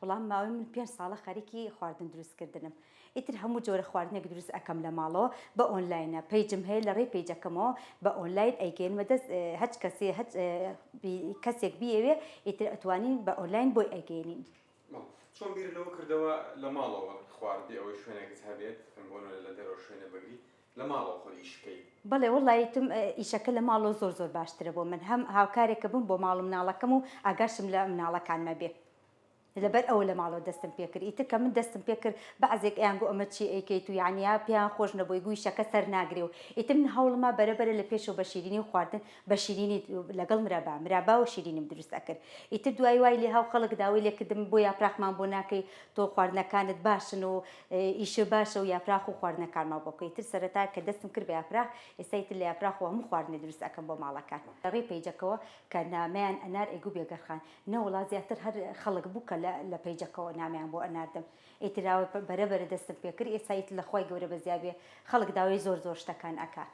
وەڵام ماوەی من پێنج ساڵە خەریکی خواردن دروست کردنم ئیتر هەموو جۆرە خواردنێک دروست ئەکەم لە ماڵەوە بە ئۆنلاینە پەیجم هەیە لە ڕێی پەیجەکەمەوە بە ئۆنلاین ئەیگەینمە دەست هەچ کەسێ هەچ کەسێک بیەوێ ئیتر ئەتوانین بە ئۆنلاین بۆی ئەگەینین. چۆن بیرت لەوە کردەوە لە ماڵەوە خواردبی ئەوەی شوێنێکت هەبێت بۆ نمونە لە دەرەوە شوێنە بگری لە ماڵەوە خۆت ئیش بکەی. بەڵێ وەڵا یتم ئیشەکە لە ماڵەوە زۆر زۆر باشترە بۆ من هەم هاوکارێکە بم بۆ ماڵ و مناڵەکەم و ئاگاشم لە مناڵەکانمە بێ لەبەر ئەوە لە ماڵەوە دەستم پێ کرد ئیتر کە من دەستم پێ کرد بەعزێک ئەیان گۆ ئەمە چی ئەیکەیت و یانیا پێیان خۆش نەبووی گوو ئیشەکە سەر ناگرێ و ئیتر من هەوڵما بەرە بەرە لە پێشەوە بە شیرینی و خواردن بە شیرینی لەگەڵ مرابا مرابا و شیرینیم دروست ئەکرد ئیتر دوایی وای لێ هاو خەڵک داوای لێ کردم بۆ یاپراخمان بۆ ناکەی تۆ خواردنەکانت باشن و ئیشە باشە و یاپراخ و خواردنەکانمان بۆ بکەی تر سەرەتا کە دەستم کرد بە یاپراخ ئێستای تر لە یاپراخ و هەموو خواردنێ دروست ئەکەم بۆ ماڵەکان لە ڕێی پەیجەکەوە کە نامەیان ئەنار ئەی گوو بێگەر خان نەوەڵا زیاتر هەر خەڵک بوو کە لە پەیجەکەوە نامەیان بۆ ئەناردم ئیتر ئاوە بەرە بەرە دەستم پێ کرد ئێستا ئیتر لە خوای گەورە بەزیابێ خەڵک داوای زۆر زۆر شتەکان ئەکات.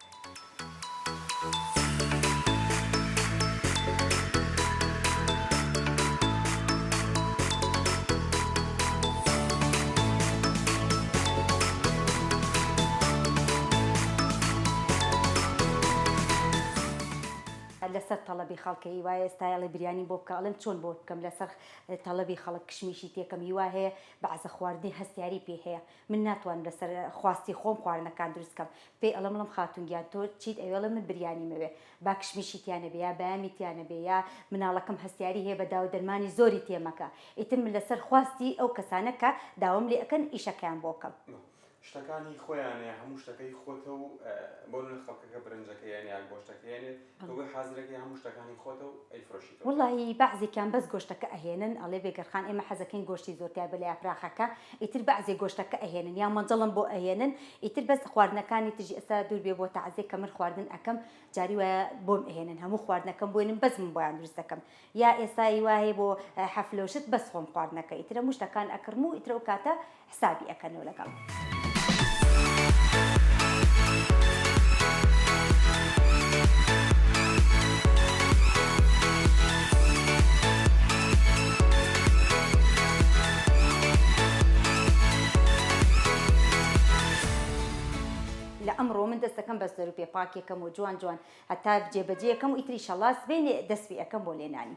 لەسەر تەڵەبی خەڵک هیوایە ئێستا ئەڵێ بریانی بۆ بکە ئەڵێم چۆن بۆت بکەم لەسەر تەڵەبی خەڵک کشمیشی تێکەم هیوا هەیە بەعزە خواردنی هەستیاری پێ هەیە من ناتوانم لەسەر خواستی خۆم خواردنەکان دروست کەم پێی ئەڵێم بڵێم خاتون گیان تۆ چیت ئەوێ ئەڵێ من بریانی مەوێ با کشمیشی تیا نەبێ یا بەیامی تیا نەبێ یا مناڵەکەم هەستیاری هەیە بە داوو دەرمانی زۆری تێ مەکە ئیتر من لەسەر خواستی ئەو کەسانە کە داوام لێ ئەکەن ئیشەکەیان بۆ کەم. شتەکان هی خۆیانە یا هەموو شتەکە هی خۆتە و بۆ نمونە خەڵکەکە برنجەکەی ئەنێ یان گۆشتەکەی ئەنێت تۆ حازرەکەی هەموو شتەکانی خۆتە و ئەیفرۆشیتەوە. وەڵاهی بەعزێکیان بەس گۆشتەکە ئەهێنن ئەڵێ بێگەرخان ئێمە حەزەکەین گۆشتی زۆر تیا بێ لە یاپراخەکە ئیتر بەعزێ گۆشتەکە ئەهێنن یان مەنجەڵم بۆ ئەهێنن ئیتر بەس خواردنەکانی تریش ئێستا دوور بێ بۆ تەعزێ کە من خواردن ئەکەم جاری وایە بۆم ئەهێنن هەموو خواردنەکەم بۆێنن بەس من بۆیان دروست دەکەم یا ئێستا ای وا هەیە بۆ حەفلە و شت بەس خۆم خواردنەکە ئیتر هەموو شتەکان ئەکڕم و ئیتر ئەو کاتە حسابی ئەکەن و لەگەڵ. لە ئەمڕۆ من دەست دەکەم بە زەروپێ پاکێکەم و جوان جوان هەتا جێ بەجێ ئەکەم و ئیتر ئیشەڵا سبەینێ دەست پێ ئەکەم بۆ لێنانی.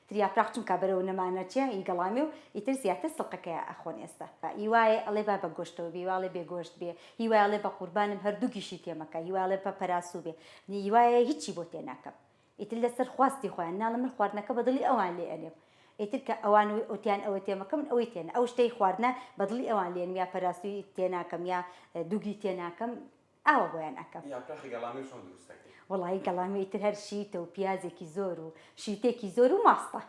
تریاپراخ چونکا بەرەو نەمانە چیا ی گەڵامێ و ئیتر زیاتر سڵقەکەیا ئەخۆن ئێستە ی وایێ ئەڵێ با بە گۆشتەوە بێ ی وایڵێ بێ گۆشت بێ ی وایڵێ بە قوربانم هەر دوو گیشی تێ مەکە ی وایڵێ پە پەراسوو بێ ی وایێ هیچی بۆ تێ ناکەم ئیتر لە سەر خواستی خۆیان ناڵم من خواردنەکە بە دڵی ئەوان لێ ئەنێم ئیتر کە ئەوان وتیان ئەوە تێ مەکە من ئەوەی تێ نا ئەو شتەی خواردنە بە دڵی ئەوان لێ نم یا پەراسووی تێ ناکەم یا دووگی تێ ناکەم ئاوا بۆیان ئەکەم. یاپراخی گەڵامی و چۆن دروست ئەکەی. وەڵایی گەڵامی ئیتر هەر شیتە و پیازێکی زۆر و شیتێکی زۆر و ماستە.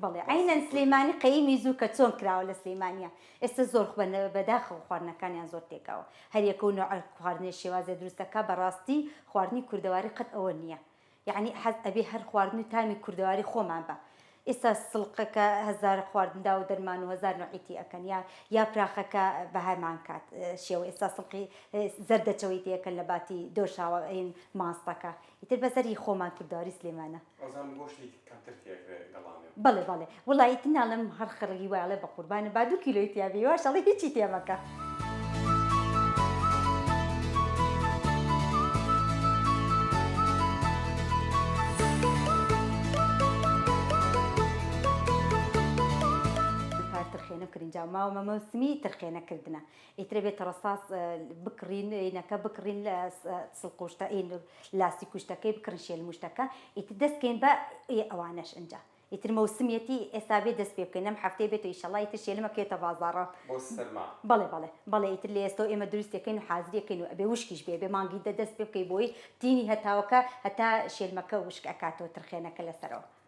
بەڵێ عەینەن سلیمانی قەیمی زوو کە چۆن کراوە لە سلیمانیا ئێستا زۆر خو بەداخەوە خواردنەکانیان زۆر تێکەوە هەر یەکە و نەوعە خواردنێ شێوازێ دروست ئەکا بەڕاستی خواردنی کوردەواری قەت ئەوە نیە یەعنی حەز ئەبێ هەر خواردن و تامی کوردەواری خۆمان بە ئیستا سڵقەکە هەزار خواردن داو دەرمان و هەزار نوعی تی ئەکەن یا یاپراخەکە بەهەمان کات شێوە ئیستا سڵقی زەردەچەوەی تی ئەکەن لە باتی دۆشاوە ئەین ماستەکە ئیتر بەسەری خۆمان کوردەواری سلێمانە. کەمتر تیەکرێ گەڵامێ. بەڵێ بەڵێ وەڵا ئیتر ناڵێم هەر خڕ هیوای ئەڵێ بەقوربانت با دوو کیلۆی تیا بێ هیواش ئەڵێ هیچی تێ مەکە. دووپات تڕخێنەو کرنجاو ماوە مەمەوسمی تڕخێنە کردنە ئیتر ئەبێ تەڕەساس بکڕین ئینەکە بکڕین لە سڵقوشتە ئین لاستی کوشتەکەی بکڕین شێلموشتەکە ئیتر دەست کەین بە ئێ ئەوانەش ئنجا ئیتر مەوسمیەتی ئێستا بێ دەست پێ بکەین ئەم هەفتەیە بێتەوە ئیشەڵا ئیتر شێلم ئەکرێتە بازاڕا بۆ سەرما بەڵێ بەڵێ بەڵێ ئیتر لە ئێستەوە ئێمە دروستی ئەکەین و حازری ئەکەین و ئەبێ وشکیش بێ ئەبێ مانگی دە دەست پێ بکەی بۆی تینی هەتاوەکە هەتا شێلمەکە وشک ئەکاتەوە ترخێنەکە لەسەرەوە.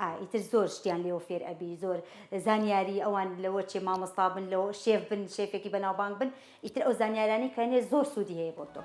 ئا ئیتر زۆر شتیان لێوە فێر ئەبی زۆر زانیاری ئەوان لەوە چێ مامۆستا بن لەوە شێف بن شێفێکی بەناوبانگ بن ئیتر ئەو زانیارانەی کە هەنێ زۆر سوودی هەیە بۆ تۆ.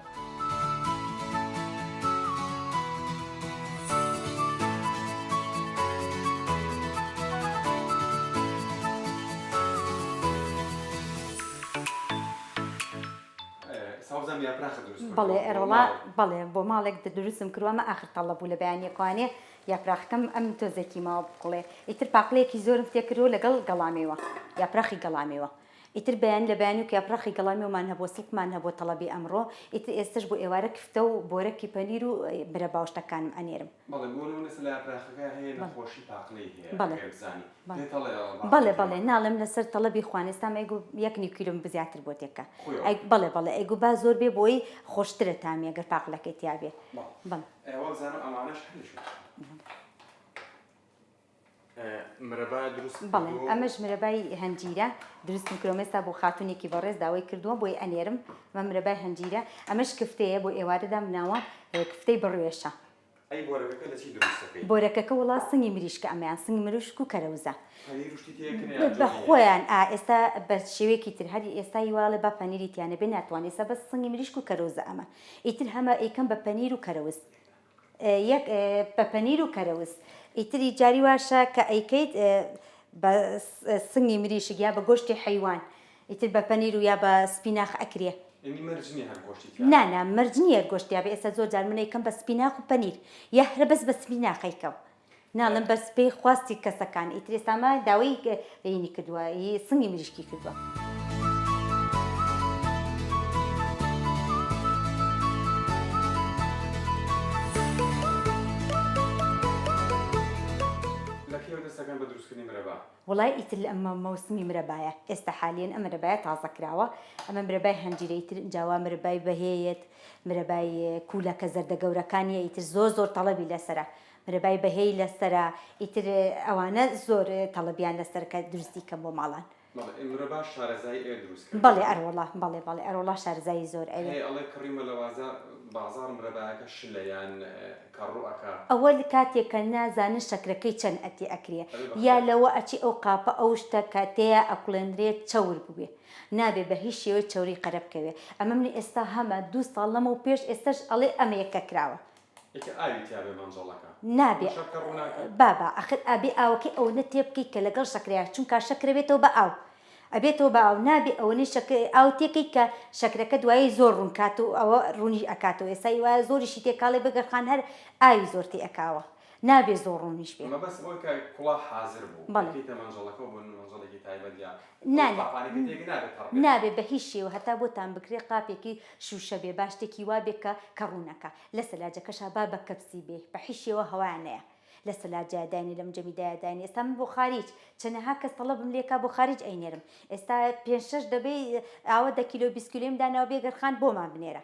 بەڵێ ئێرۆڵا بەڵێ بۆ ماڵێک دروستم کرووە مە ئاخر تەڵە بوو لە بەیانیەکوانێ یاپراخەکەم ئەم تۆزێکی ماوە بکوڵێ ئیتر پاقلەیەکی زۆرم تێکردوە لەگەڵ گەڵامێوە یاپراخی گەڵامێوە ئیتر بەیانی لە بەیانی وەک یاپراخی گەڵامێوەمان هەبووە سڵقمان هەبووە تەڵەبی ئەمڕۆ ئیتر ئێستەش بۆ ئێوارە کفتە و بۆرەکی پەنیر و مرەبا و شتەکانم ئەنێرم. بەڵێ بۆ نموونە سەلا یاپراخەکە هەیە نەخۆشی پاقلەی هەیە ئەگەر بزانی پێت هەڵێ ئەڵێ باقلە بەڵێ بەڵێ ناڵێم لەسەر تەڵەبی خوان ئێستام ئەی گوو یەک نیو کیلۆم بزیاتر بۆ تێکە خۆیەوە ئەی بەڵێ بەڵێ ئەی گوو با زۆر بێ بۆی خۆشترە تامی ئەگەر پاقلەکەی تیابێ بەڵێ. ئەی وابزانم ئەمانەش هەر لە شوێنیان. مرەبا دروست بەڵێ ئەمەش مرەبای هەنجیرە دروستم کرۆمێستا بۆ خاتونێکی بەڕێز داوای کردووە بۆی ئەنێرم مە مرەبای هەنجیرە ئەمەش کفتەیە بۆ ئێوارەدا مناوە کفتەی بڕوێشە بۆرەکەکە وڵا سنگی مریشکە ئەمیان سنگ مروشک و کەرەوزە بە خۆیان ئا ئێستا بە شێوەیەکی تر هەری ئێستا هیواڵێ بە پەنیری تیانە بێ ناتوان ئێستا بە سنگی مریشک و کەرۆزە ئەمە ئیتر هەمە ئەیکەم بە پەنیر و کەرەوز یەک بە پەنیر و کەرەوز ئیتری جاری واشە کە ئەیکەیت بە سنگی مریشک یا بە گۆشتی حەیوان ئیتر بە پەنیر و یا بە سپیناخ ئەکرێ نانا مەرج نییە گۆشتیابێ ئێستا زۆر جار منەیکەم بە سپیناخ و پەنیر یا هەرە بەس بە سپیناخەیکەم. ناڵێم بەس پێی خواستی کەسەکان ئیتر ئێستا ئەمە داوەی ئینی کردووە ی سنگی مریشکی کردووە. لە کەیەوە دەست ئەکەن بە دروست کردنی مرەبا؟ وەڵای ئیتر لە ئەمە مەوسمی مرەبایە ئێستا حالیەن ئەم مرەبایە تازە کراوە ئەمە مرەبای هەنجیرە ئیتر ئینجا وا مرەبای بەهێیەت مرەبای کوولەکە زەردە گەورەکانیە ئیتر زۆر زۆر تەڵەبی لەسەرە مرەبای بەهێی لەسەرە ئیتر ئەوانە زۆر تەڵەبیان لەسەر کە دروستی کەم بۆ ماڵان. بەڵێ مرەبا شارەزای ئێ دروست کردنە. بەڵێ ئەرۆڵا بەڵێ بەڵێ ئەرۆڵا شارەزایی زۆر ئەوێ. هەیە ئەڵێ کڕی مەلەوازە بازاڕ مرەبایەکە شلە یان کەڕڕو ئەکا. ئەوە کاتێ کە نا زانن شەکرەکەی چەن ئەتێ ئەکرێ یا لەوە ئەچێ ئەو قاپە ئەو شتە کە تێیا ئەکوڵێنرێ چەور بوێ نابێ بە هیچ شێوەی چەوری قەرە بکەوێ ئەمە منی ئێستا هەمە دوو ساڵ لەمەو پێش ئێستەش ئەڵێ ئەمەیە کە کراوە ئیکە ئاوی تیابێ مەنجەڵەکە نابێ شەکرە ڕوناکە. بابە ئەخر ئەبێ ئاوەکەی ئەوەنە تێبکەی کە لەگەڵ شەکرەیا چونکا شەکرە بێتەوە بە ئاو ئەبێتەوە بە ئاو نابێ ئەوەنەی شەکر ئاو تێکەی کە شەکرەکە دوایی زۆر ڕون کات و ئەوە ڕونی ئەکاتەوە ئێستا هی وایە زۆریشی تێکاڵێ بگە خان هەر ئاوی زۆر تێ ئەکاوە نابێ زۆر ڕونیش بێ. مەبەست ئەوەی کە کوڵا حازر بوو بەڵێ. ئەکەیتە مەنجەڵەکەو بۆ نمەنجەڵێکی تایبەت یا نا نا نابێ بە هیچ شێوە هەتا بۆتان بکرێ قاپێکی شوشە بێ با شتێکی وا بێ کە کە ڕوونەکا لە سەلاجەکەشا با بە کەپسی بێ بە حیچ شێوە هەوایان نەیا لە سەلاجەیا داینێ لە مجەمی دایا داینێ ئێستا من بۆ خاریج چەنەها کەس تەڵەبم لێ کا بۆ خاریج ئەینێرم ئێستا پێنج شەش دەبەی ئاوە دە کیلۆ بیست کیلۆیم داناوە بێ گەرخان بۆمان بنێرە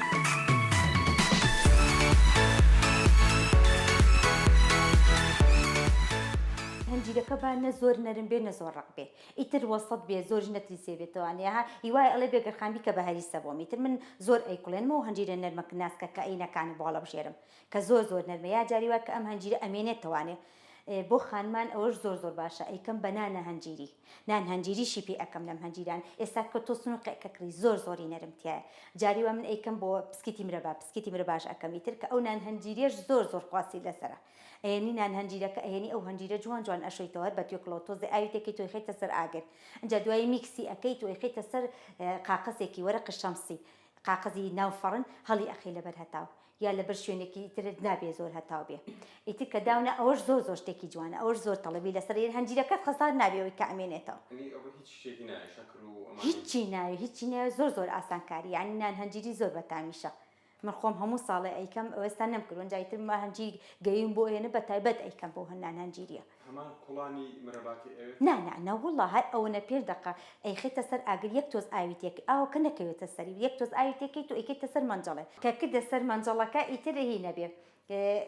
هەنجیرەکە با نە زۆر نەرم بێ نە زۆر ڕەق بێ ئیتر وەسەت بێ زۆریش نەتلیسێ بێتەوانێ ها هیوایە ئەڵێ بێ گەرخان بیکە بە هەریسە بۆم ئیتر من زۆر ئەیکوڵێنمەوە هەنجیرە نەرمە ک ناسکە کە ئەینەکانی بۆ هەڵەبژێرم کە زۆر زۆر نەرمە یا جاری وا کە ئەم هەنجیرە ئەمێنێتەوانێ بۆ خانمان ئەوەش زۆر زۆر باشە ئەیکەم بە نانە هەنجیری نان هەنجیری شی پێ ئەکەم لەم هەنجیران ئێستا کە تۆ سنوقێ کە کڕی زۆر زۆری نەرم تیایە جاری وا من ئەیکەم بۆ پسکیتی مرەبا پسکیتی مرەباش ئەکەم ئیتر کە ئەو نان هەنجیریەش زۆر زۆر خواستی لەسەرە ئەیەنی نان هەنجیرەکە ئەیەنی ئەو هەنجیرە جوان جوان ئەشۆیتەوە هەر بە توێکڵەوە تۆزێ ئاوی تێکەی تۆی خەیتە سەر ئاگر ئینجا دوایی میکسی ئەکەی تۆی خەیتە سەر قاقەزێکی وەرەقی شەمسی قاقەزی ناو فەڕن هەڵی ئەخەی لەبەر هەتاو یا لەبەر شوێنێکی تر نابێ زۆر هەتاو بێ ئیتر کە داونا ئەوەش زۆر زۆر شتێکی جوانە ئەوەش زۆر تەڵەبی لەسەر یە هەنجیرەکەت خەسار نابێ ئەوەی کە ئەمێنێتەوە یعنی ئەوە هیچ شتێکی نایە شەکر و ئەمانەی هیچی ناوێ هیچی ناوێ زۆر زۆر ئاسانکاری یعنی نان هەنجیری زۆر بەتامیشە من خۆم هەموو ساڵێ ئەیکەم ئەوێستا نەمکردووە ئینجا ئیتر هەنجیر گەییم بۆ ئێنە بەتایبەت ئەیکەم بۆ هەنان هەنجیریە هەمان کوڵانی مرەباتی ئەوێت؟ نا نا نەوەڵا هەر ئەوەنە پێش دەقە ئەیخەیتە سەر ئاگر یەک تۆز ئاوی تێکەی ئاوەکە نەکەوێتە سەری یەک تۆز ئاوی تێکەیت و ئەیکەیتە سەر مەنجەڵێ کە کردە سەر مەنجەڵەکە ئیتر هی نەبێ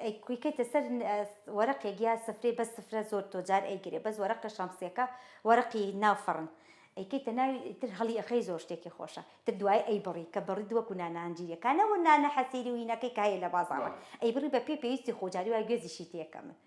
ئەیکەیتە سەر وەرەقێک یا سفرێ بەس سفرە زۆر تۆ جار ئەیگرێ بەس وەرەقە شەمسیەکە وەرەقی ناو فەڕن ئەیکەیتە ناوی ئیتر هەڵی ئەخەی زۆر شتێکی خۆشە ئیتر دوای ئەیبڕی کە بڕیت وەکو نانە هەنجیرەکان نەوەک نانە حەسیری و هینەکەی کە هەیە لە بازاڕ ئەیبڕی بە پێی پێویستی خۆ جاری وا گوێزیشی تێکەمن.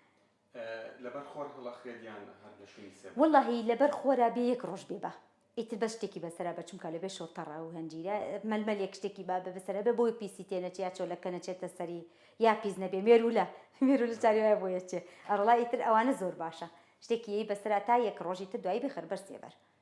لەبەر خۆر هەڵە خرێت یان هەر لە شوێنی سێ بەرە؟ وەڵاهی لەبەر خۆرا بێ یەک ڕۆژ بێ با ئیتر بەس شتێکی بەسەرا بە چونکا لەبێ شۆ تەڕە و هەنجیرە مەلمەلێک شتێکی با بە بەسەرا بێ بۆی پیسی تێ نەچێ یا چۆلەکە نەچێتە سەری یا پیس نەبێ مێروولە مێروولە چاری وایە بۆ یەچێ ئەڕڵا ئیتر ئەوانە زۆر باشە شتێکی یەی بەسەرا تا یەک ڕۆژ ئیتر دوایی بخەر بەر سێ بەر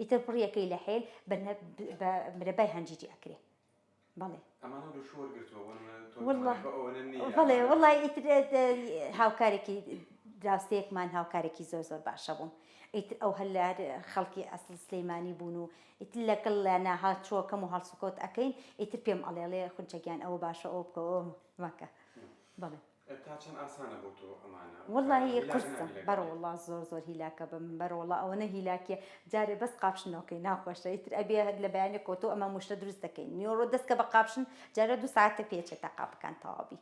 ئیتر بڕیەکەی لە حێل بە بە مرەبای هەنجیری ئەکرێ بەڵێ ئەمانە دوو شۆر گرتووە بۆ نمونە تۆ واللە تەمەنی بە ئەوەنە نییە بەڵێ ئەمانە واللە ئیتر هاوکارێکی دراوسێکمان هاوکارێکی زۆر زۆر باشە بووم ئیتر ئەو هەر لە خەڵکی ئەسڵ سلەیمانی بوون و ئیتر لەگەڵ لە ناهاچووەکەم و هەڵسوکەوت ئەکەین ئیتر پێم ئەڵێڵێ خونچە گیان ئەوە باشە ئەوە بکە ئەوە مەکە بەڵێ تا چەند ئاسانە بۆ تۆ ئەمانە. وەڵا هی قورسە بەروەڵا زۆر زۆر هیلاکە بم بەروەڵا ئەوەنە هیلاکیە جارێ بەس قاپشن نۆکەی ناخۆشە ئیتر ئەبێ هەر لە بەیانی کۆتۆ ئەمە موشە دروست دەکەین نیۆرۆ دەست کە بە قاپشن جارێ دوو سەعاتە پێ چێ تا قاپەکان تەواو بی.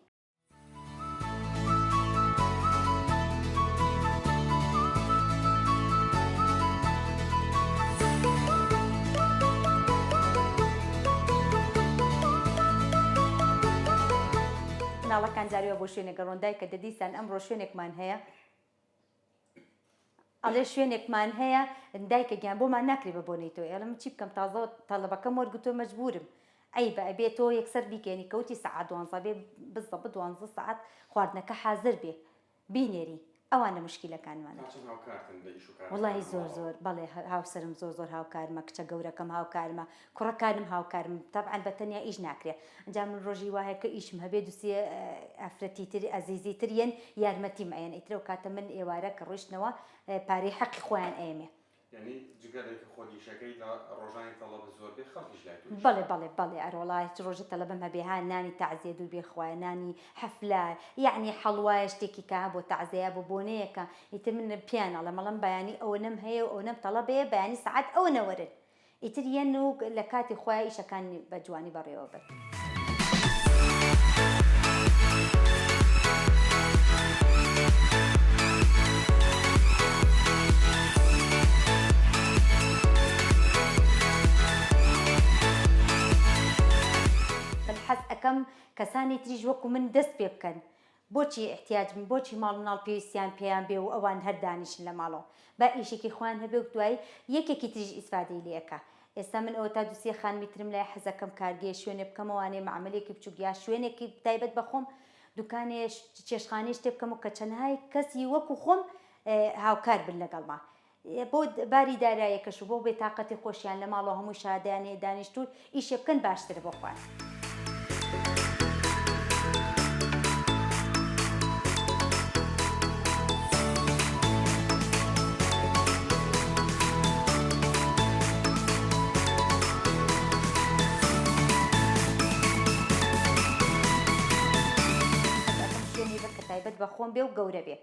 مناڵەکان جاری وا بۆ شوێنێک ئەڕۆن دایکە دە دیسان ئەمڕۆ شوێنێکمان هەیە ئەڵێ شوێنێکمان هەیە دایکە گیان بۆمان ناکرێ بە بۆنەی تۆ ئێڵم چی بکەم تازە تەڵەبەکەم وەرگتۆ مەجبورم ئەی بە ئەبێ تۆ یەکسەر بیکەێنی کەوتی سەعات دوانزە بێ بزە بە دوانزە سعات خواردنەکە حازر بێ بینێری ئەوان لە مشکیلەکانمانن. تا چەند هاوکارتن لە ئیش و کارەکان وەڵاهی زۆر ماڵەوە؟ زۆر بەڵێ هاوسەرم زۆر زۆر هاوکارمە کچە گەورەکەم هاوکارمە کوڕەکانم هاوکارم تەبعەن بە تەنیا ئیش ناکرێ ئەنجا من ڕۆژی وا هەیە کە ئیشم هەبێ دوو سێ ئافرەتی تر ئەزیزی تر یەن یارمەتیم ئەیەن ئیتر ئەو کاتە من ئێوارە کە ڕۆیشتنەوە پارەی حەقی خۆیان ئەیەمێ یانی جگە لەوەی کە خۆت ئیشەکەی لە ڕۆژانی تەڵەبت زۆر بێ خەڵکیش لای تۆ ئیش بەڵێ ئەکەن. بەڵێ بەڵێ ئەرۆڵا هیچ ڕۆژێ تەڵەبم هەبێ ها نانی تەعزێ دوور بێ خوایە نانی حەفلە یانی حەڵوایە شتێکی کە ها بۆ تەعزێیە بۆ بۆنەیەکە ئیتر من پێیان ئەڵێم ئەڵێم بەیانی ئەوەنەم هەیە و ئەوەنەم تەڵەبێ بەیانی سەعات ئەوەنە وەرن ئیتر یەن و لە کاتی خۆیا ئیشەکان بە جوانی بەڕێوە برد. من حەز ئەکەم کەسانی تریش وەکو من دەست پێ بکەن. بۆچی احتیاج بن بۆچی ماڵ مناڵ پێویستیان پێیان بێ و ئەوان هەر دانیشن لە ماڵەوە با ئیشێکی خۆیان هەبێ و دوای یەکێکی تریش ئیسفادەی لێ ئەکا ئێستا من ئەوە تا دوو سێ خانمی ترم لای حەزەکەم کارگەیە شوێنێ بکەمە وانێ مەعەمەلێکی بچوک یا شوێنێکی تایبەت بە خۆم دوکانێ چێشتخانەی شتێ بکەم و کە چەنها کەسی وەکو خۆم هاوکار بن لەگەڵما بۆ باری دارایەکەش و بۆ بێ تاقەتی خۆشیان لە ماڵەوە هەمووی شادەیان هەیە دانیشتوون ئیشێ بکەن باشترە بۆ خوان. تایبەت بە خۆم بێ و گەورە بێ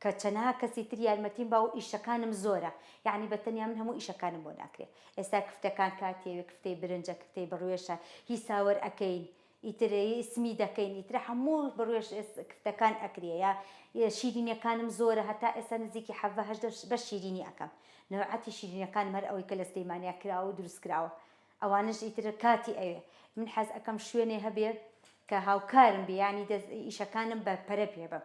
کە چەنەها کەسی تر یارمەتیم با و ئیشەکانم زۆرە یەعنی بە تەنیا من هەموو ئیشەکانم بۆ ناکرێ ئێستا کفتەکان کاتی ئەوێ کفتەی برنجە کفتەی بڕوێشە هی ساوەر ئەکەین ئیتر سمی دەکەین ئیتر هەموو بڕوێش کفتەکان ئەکرێ یا شیرینیەکانم زۆرە هەتا ئێستا نزیکی حەڤە هەژدە بەش شیرینی ئەکەم نەوعەتی شیرینەکانم هەر ئەوەی کە لە سلیمانیا کراوە و دروست کراوە ئەوانەش ئیتر کاتی ئەوێ من حەز ئەکەم شوێنێ هەبێ کە هاوکارم بێ یەعنی ئیشەکانم بە پەرە پێ بم.